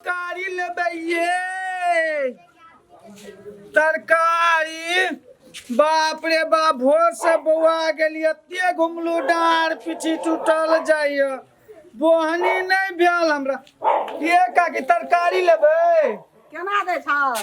तरकारी लेबै ये तरकारी बाप रे बाप भोर से बौआ गेली एते घुमलू डार पीछी टूटल जाइए बोहनी नहीं भेल हमरा ये काकी तरकारी लेबै केना दै छह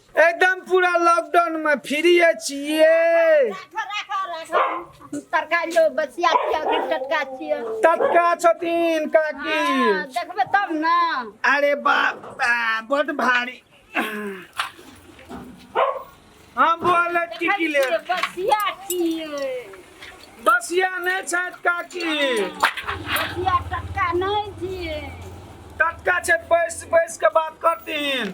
एकदम पूरा लॉकडाउन में फ्री छिए तरकारी लो बसिया छिया कि टटका छिया तटका छथिन काकी हाँ, देखबे तब ना अरे बाप आ, बड भारी हम बोल की की ले बसिया छिए बसिया नहीं छत काकी बसिया टटका नहीं छिए तटका छत बैस बैस के बात करतीन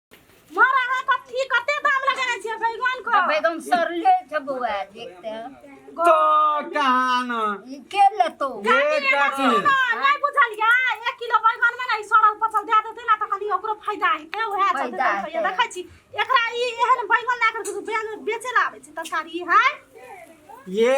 मारा है कथी कते दाम लगाने छियै बैगन को बैगन सरले छै बौआ देखते हैं तो कहान ई के लेतो ये काकी नहीं बुझल या 1 किलो बैगन में नहीं सड़ल पचल दे देते ना त कनी ओकरो फायदा हेते उहे छै फायदा रुपया हेतै। देखै छी एकरा ई एहन बैगन ला कर बेचे ला आबै छै तरकारी है ये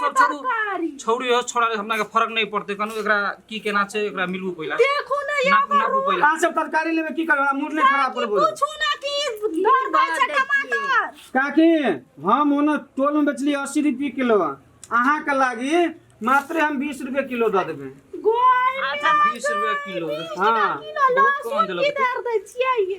सब छोड़ू छोड़ू यो छोड़ा हमरा के फर्क नहीं पड़ते कनु एकरा की केना छै एकरा मिलबू पहिला देखो ना या नापू नापू करू पहिला अहाँ सब तरकारी लेबे की करबे मूड नहीं खराब करबो पूछू ना कि घर पर छै टमाटर काकी हम ओने टोल में बेचली अस्सी रुपये किलो अहाँ के लागी मात्र हम बीस रुपये किलो दऽ देबै गोल अच्छा बीस रुपया किलो हाँ बहुत कम देलक दे छियै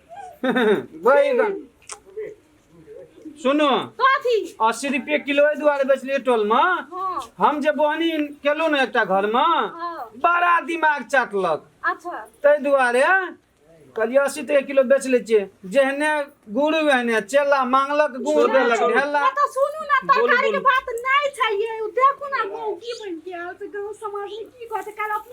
बैगन सुनो कथी अस्सी रुपये किलो एहि दुआरे बेचलियै टोलमे हाँ हम जे बोहनी केलहुँ ने एकटा घरमे हाँ बड़ा दिमाग चाटलक अच्छा ताहि दुआरे कहलियै अस्सी टके किलो बेच लै छियै जेहने गुरु एहने चेला मांगलक गुड़ देलक ढेला तो सुनू ना तरकारी के बात नहीं चाहिए देखू ना गाँव की बन के आयल से गाँव समाज में की कहते काल अपने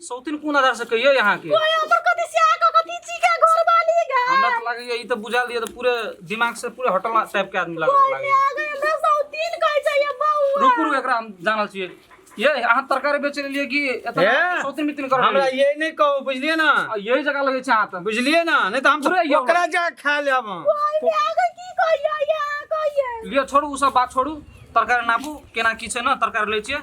सौतिन कोन आधार से कहियो यहाँ के ओए हमर कथि से आके कथि छी के घर वाली गा हमरा तो लगे ये तो बुझा दिए तो पूरे दिमाग से पूरे हटल टाइप के आदमी लगे ओए लगे आ गए हमरा सौतीन कह जाइए बउआ रुक रुक एकरा हम जानल छिए ये यहाँ तरकारी बेचे लिए कि हे? एतना सौतिन मितिन कर हमरा ये नहीं कहो बुझलिए ना यही जगह लगे छै हाथ बुझलिए ना नहीं तो हम पूरे यो- ओकरा जा खा लेब हम ओए आ गए की कहिए यहाँ कहिए लियो छोड़ू उ सब बात छोड़ू तरकारी नापू केना की छै ना तरकारी ले छिए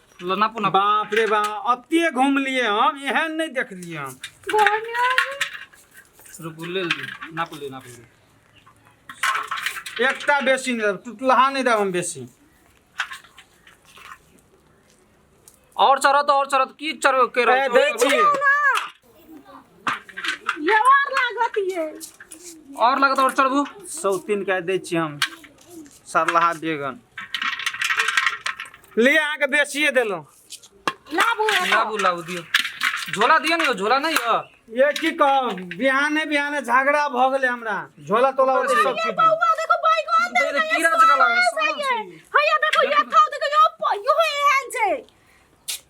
लो ना पुना बाप रे बा अतिए घूमलिए हम एहन नहीं देखलिए हम रुक ले ले ना पुले ना पुले एकटा बेसी नहीं देब टुटलहा नहीं देब हम बेसी और चढ़त और चढ़त की चढ़ के ए, रहत? दै छी ये और लागत ये और लगत और चढ़बू सौतीन के दे छी हम सरलाहा बेगन ले अहाँ के बेसिए देलहुँ लाबू एगो। लाबू लाबू दियो झोला दियो ने झोला नहीं हो ये की कह बिहाने बिहाने झगड़ा भऽ गेलै हमरा झोला तोला ओते सब ये चीज बौआ देखो बैगन दे देखो, कीड़ा जकाँ लागल, सोना छै। हैया देखो ये खाओ देखो यो प- यो एहन छै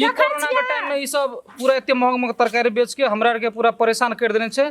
ये कोरोना के टाइम में ई सब पूरा एते महंग महंग तरकारी बेच के हमरा आर के पूरा परेशान कर देने छै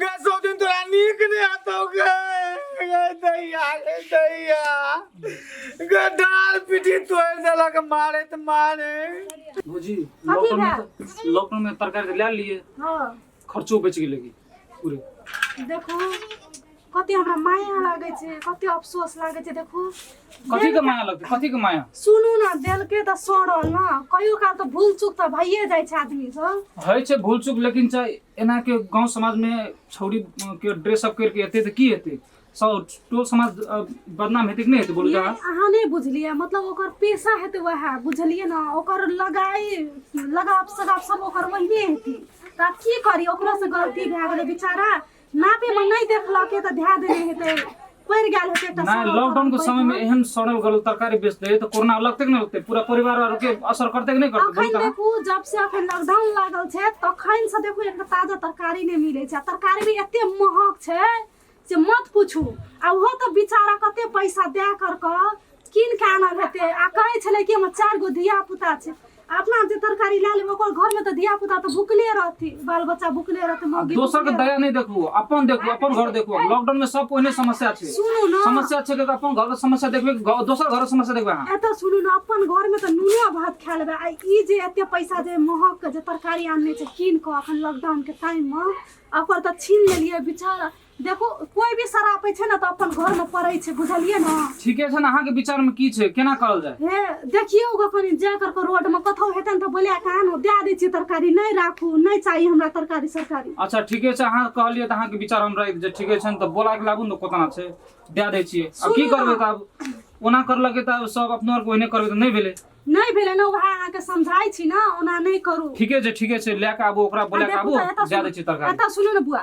गे सौदिन तोरा नीक नहि हेतौ गे गे दैया गे दैया गे डाल पीठी तोड़ि देलक मारैत मारे भौजी कथी लॉकडाउन में भेल? तो- लॉकडाउन में तरकारी तो ले लिए हाँ खर्चो बच गेलै की पूरे देखू कते हमरा माया लागे छै कते अफसोस लागे छै देखू कथी के माया लगतै कथी के माया सुनू ना देलके त सड़ल ना कहियो काल त भूल चूक त भइए जाइ छै आदमी सब होइ छै भूल चूक लेकिन छै एना के गांव समाज में छौरी अ, के ड्रेस अप करके एते त की हेतै सब टोल समाज अ, बदनाम हेतै कि नहीं हेतै बोलू ये जरा अहाँ नहीं बुझलिए मतलब ओकर पेशा हेतै वएह बुझलिए ना ओकर लगाई लगाव सगाव सब ओकर वही हेतै त आब की करी ओकरो से गलती भए गेलै बेचारा नापे में नहीं देखलक के तो ध्यान देने हेते पड़ गेल हेते एकटा ना सड़ल लॉकडाउन के तरल समय में पैसा। एहन सड़ल गल तरकारी बेचते है तो कोरोना लगते कि नहीं लगते पूरा परिवार और के असर करते कि नहीं करते बोल अखन कहाँ? देखू जब से अखन लॉकडाउन लागल छै तखन से देखू एकटा ताजा तरकारी नहि मिलै छै आ तरकारी भी एते महग छै से मत पूछू आ ओहो तऽ बेचारा कते पैसा दए कर कऽ कीन के आना रहते आ कहे छले कि हमर चार गो धिया पुता छै अपना जे तरकारी लए लेबै ओकर घर में तऽ धिया पुता तऽ भुखले रहथि बाल बच्चा भुखले रहतै मौगी दोसर के दया नहि देखू अपन देखू अपन घर देखू लॉकडाउन में सब ओहने समस्या छै सुनू ने समस्या छै कि अपन घर के समस्या देखबे दोसर घर के समस्या देखबे अहाँ एतऽ सुनू ने अपन घर में तऽ नूने भात खा लेबै आ ई जे एते पैसा जे महक के जे तरकारी आनने छै कीन कऽ अखन लॉकडाउन के टाइम में ओकर तऽ छीन लेलियै बेचारा देखो कोई भी सरापे छे ना तो अपन घर में पड़े छे बुझलिए ना ठीके छै ने अहाँके विचारमे की छै केना करल जाय हे देखिए ओगा कनी जा कर के रोड में कथौ हेतन तो बोले कान हो दे दे छी तरकारी नहीं राखू नहीं चाहिए हमरा तरकारी सरकारी अच्छा ठीके छै अहाँ कहलियै तऽ अहाँके विचार हम राखि जे ठीके छै ने तऽ बोला के लाबू ने कोतना छै दए दै छियै आब की सुनू करबै ने। तऽ आब ओना करलकै तऽ आब सब अपना आरके ओहिने करबै तऽ नहि भेलै नहीं भेले ना वह अहाँ के समझाई छी ना ओना नहीं करू ठीके छै ठीके छै लए कऽ आबू ओकरा बोला कऽ आबू दए दै छियै तरकारी एतऽ सुनू ने बुआ